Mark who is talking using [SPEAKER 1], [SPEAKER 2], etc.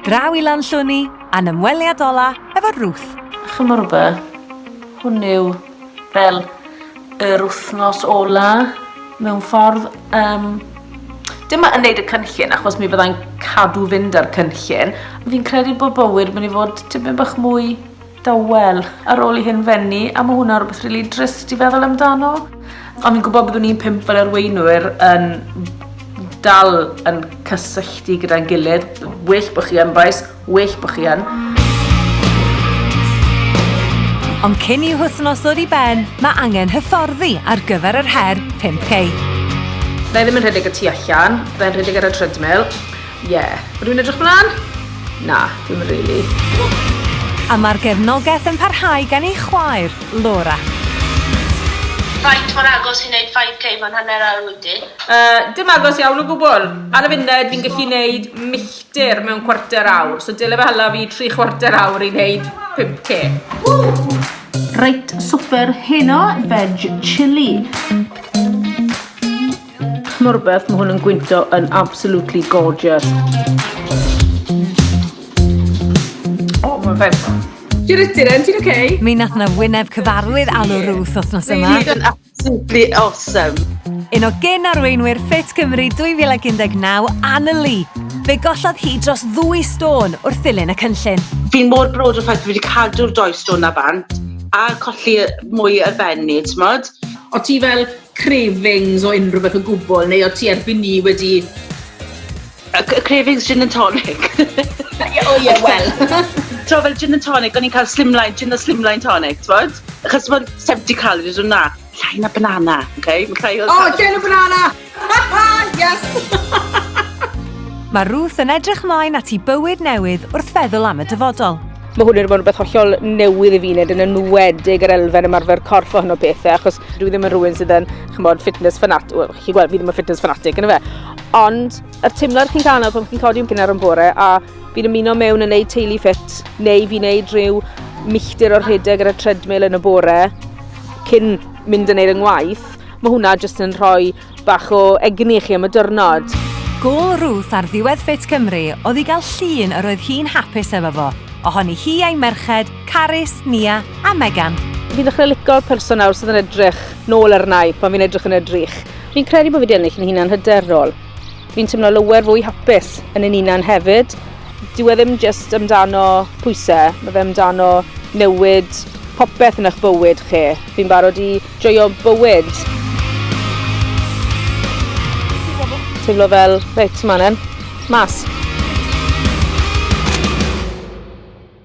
[SPEAKER 1] Draw i Lanllwni a'n ymweliad ola efo Ruth. Chimod
[SPEAKER 2] rhywbeth, hwn yw fel yr wythnos ola mewn ffordd. Um, dim yn neud y cynllun achos mi fyddai'n cadw fynd ar cynllun. Fi'n credu bod bywyd mynd i fod tipyn bach mwy Dawel. Ar ôl i hyn fenni, a ma' hwnna rwbeth rili drist i feddwl amdano. O'n fi'n gwybod byddwn ni'n pump fel arweinwyr yn dal yn cysylltu gyda'n gilydd. Well bod chi yn, bois. Well bod chi yn.
[SPEAKER 1] Ond cyn i'w hwthnos ddod i ben, mae angen hyfforddi ar gyfer yr her 5K. Fe
[SPEAKER 2] ddim yn rhedeg y tu allan, fe'n rhedeg ar y treadmill. Ie. Rwy'n edrych mlaen? Na, dwi'm rili.
[SPEAKER 1] A mae'r gefnogaeth yn parhau gan ei chwaer, Laura. Faint
[SPEAKER 3] mor agos i wneud 5k mewn hanner awr wyt ti? Yy, dim agos
[SPEAKER 2] iawn o gwbl. Ar y funud, fi'n gallu wneud milltir mewn cwarter awr, so dyle fe hala fi tri chwarter awr i wneud 5k. Reit, swper heno, veg chilli. Morbeth, mae hwn yn gwynto yn absolutely gorgeous. O, mae'n fes. Ti'n rydyn yn, ti'n oce? Mi nath na wyneb
[SPEAKER 1] cyfarwydd alw Ruth othnos yma. Ruth yn absolutely
[SPEAKER 3] awesome. Un o gen
[SPEAKER 1] arweinwyr Fit Cymru 2019, Anna Lee. Fe gollodd hi dros ddwy stôn wrth ddilyn y cynllun. Fi'n mor brod o'r
[SPEAKER 4] ffaith fi wedi cadw'r doi stôn na bant a colli mwy y benni, ti'n modd? O ti fel
[SPEAKER 2] cravings o unrhyw beth o gwbl, neu o ti erbyn ni wedi... Y,
[SPEAKER 4] y cravings gin and tonic. o ie,
[SPEAKER 2] wel. Tro
[SPEAKER 4] fel gin and tonic, o'n i'n cael slimline, gin a slimline tonic, twod? Achos mae'n 70 calories o'n na. Llai na banana, oce? Okay? Mae llai o... O, oh, llai na
[SPEAKER 2] banana! yes!
[SPEAKER 1] Mae Ruth yn edrych mlaen at i bywyd newydd wrth feddwl am y dyfodol. Mae hwn wedi bod yn rhywbeth
[SPEAKER 2] hollol newydd i fi wneud yn enwedig yr elfen ymarfer corff o hyn o pethau achos dwi ddim yn rhywun sydd yn chymod fitness fanat, well, chi gweld fi ddim yn fitness fanatic yn y fe. Ond yr teimlad chi'n cael yna pan chi'n codi am gynnar yn bore a fi'n ymuno mewn yn neud teulu ffit neu fi'n neud rhyw milltir o'r rhedeg ar y treadmill yn y bore cyn mynd yn neud yng ngwaith, mae hwnna jyst yn rhoi Bach o egni i chi am y diwrnod. Gôl Ruth
[SPEAKER 1] ar ddiwedd Fit Cymru oedd i gael llun yr oedd hi'n hapus efo fo, ohoni hi a'i merched, Carys, Nia a Megan. Fi'n ddechrau lico'r
[SPEAKER 2] person nawr sydd yn edrych nôl arnai pan fi'n edrych yn y drych. Fi'n credu bod fi wedi ennill yn hunan hyderol. Fi'n teimlo lower fwy hapus yn yn hunan hefyd. Dyw e ddim just amdano pwysau, mae fe amdano newid popeth yn eich bywyd chi. Fi'n barod i joio bywyd. Teimlo fel, reit, ma'n en, mas.